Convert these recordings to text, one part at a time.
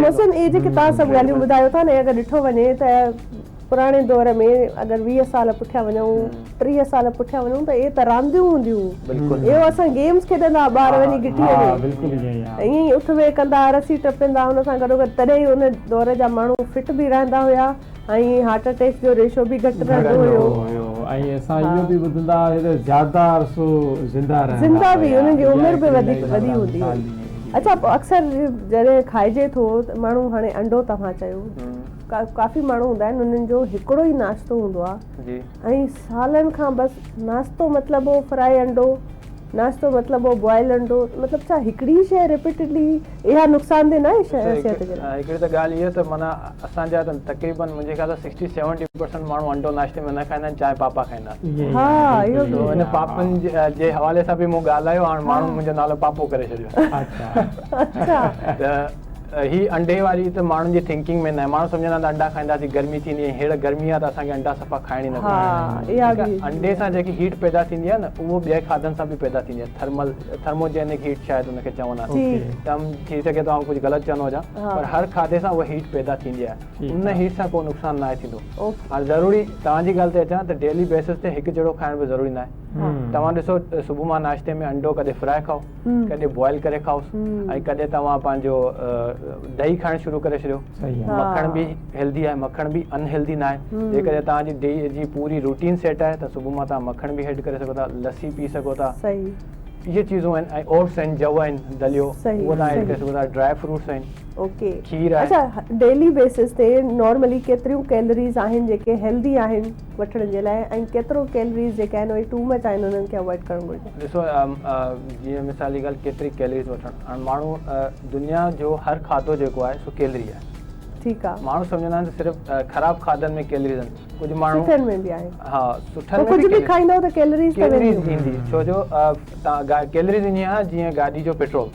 محسن اهي جيڪي توهان سڀ ڳالهيون ٻڌايو ٿا نه اگر ڏٺو وڃي ته پراڻي دور ۾ اگر ويهه سال پٺيان وڃون ٽيهه سال پٺيان وڃون ته اهي ته رانديون هونديون هيون اهو اسان گيمز کيڏندا ها ٻار وڃي گٽيء ۾ ائين ئي اٿ ويهه ڪندا ها رسي ٽپيندا ها ان سان گڏوگڏ تڏهن ئي ان دور جا ماڻهو فٽ به رهندا هيا ۽ هارٽ اٽيڪس جو ريشو به گهٽ رهندو هيو ۽ اسان اهو به ٻڌندا هئاسين ته زياده عرصو زنده رهندا هيا زنده به انهن جي عمر به وڌيڪ وڏي هوندي هئي اڇا اڪثر جڏهن کائجي ٿو ته ماڻهو هاڻي انڊو توهان چيو ڪافي ماڻهو هوندا آهن انهن جو هڪڙو ئي ناشتو هوندو آهي ۽ سالن کان بس ناشتو مطلب هو فرائي انڊو ناشتو مطلب هو بوائل انڊو مطلب ڇا هڪڙي ئي شيء رپيٽيڊلي اها نقصان ده ناهي صحت جي لاء. هڪڙي ته ڳالهه اها ته معنيٰ اسان جا ته تقريبن منهنجي خيال سان سڪسٽي سيونٽي پرسنٽ ماڻهو انڊو ناشتي ۾ نه کائندا آهن چانهه پاپا کائندا آهن ها اهو به ان پاپن جي حوالي سان به مون ڳالهايو هاڻ ماڻهن منهنجو نالو پاپو ڪري ڇڏيو اچا اچا ته هي انڊي واري ته ماڻهن جي ٿنڪنگ ۾ ناهي ماڻهو سمجهندا ته انڊا کائينداسين گرمي ٿيندي ۽ هينئر گرمي آهي ته اسان کي انڊا صفا کائڻ ئي نه گهرجن ڇو ته انڊي سان جيڪي هيٽ پيدا ٿيندي آهي نه اهو ٻئي کاڌن سان به پيدا ٿيندي آهي ٿرمل ٿرموجينڪ هيٽ شايد ان کي چوندا آهن ٿي سگهي ٿو آئون ڪجهه غلط چوندو هجان پر هر کاڌي سان اها هيٽ پيدا ٿيندي آهي ان هيٽ سان ڪو نقصان ناهي ٿيندو هاڻي ضروري توهان جي ڳالهه تي اچان ته ڊيلي بيسز تي هڪ جهڙو کائڻ به ضروري ناهي توهان ڏسو صبح مان ناشتي ۾ انڊو ڪڏهن فرائي کائو ڪڏهن بوائل ڪري کائوس ۽ ڪڏهن توهان پنهنجو ڏهي کائڻ شروع ڪري ڇڏيو مکڻ به هيلڌي آهي مکڻ به ان هيلڌي ناهي جيڪڏهن توهان جي ڏهي جي پوري روٽين سيٽ آهي ته صبح مان توهان مکڻ به هيڊ ڪري سگهو ٿا لسي پي سگهو ٿا اهي چيزون آهن ۽ اوٽس آهن جوء آهن دليو اهو توهان هيڊ ڪري سگهو ٿا ڊرائي فروٽس آهن اوڪي کير آهي اچا ڊيلي بيسس تي نارملي ڪيتريون ڪيلريز آهن جيڪي هيلڌي آهن وٺڻ جي لاء ۽ ڪيترو ڪيلريز جيڪي آهن اهي ٽو مچ آهن انهن کي اوائڊ ڪرڻ گهرجي. ڏسو جيئن مثال جي ڳالهه ڪيتري ڪيلريز وٺڻ هاڻ ماڻهو دنيا جو هر کاڌو جيڪو آهي سو ڪيلري آهي ٺيڪ آهي ماڻهو سمجهندا آهن ته صرف خراب کاڌن ۾ ڪيلريز آهن ڪجهه ماڻهو سٺن ۾ به آهن ها سٺن ۾ به کائيندا ته ڪيلريز ته وينديون ڪيلريز ايندي ڇو جو ڪيلريز ائين آهي جيئن گاڏي جو پيٽرول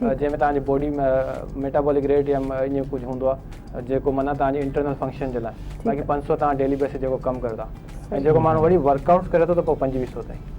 جنهن ۾ توهان جي باڊي ۾ ميٽابولڪ ريٽ يا ائين ڪجهه هوندو آهي جيڪو معنيٰ توهان جي انٽرنل فنڪشن جي لاء باقي پنج سؤ توهان ڊيلي بيس تي جيڪو ڪم ڪريو ٿا ۽ جيڪو ماڻهو ورڪ آئوٽس ڪري ٿو ته پوء پنجويهه سؤ تائين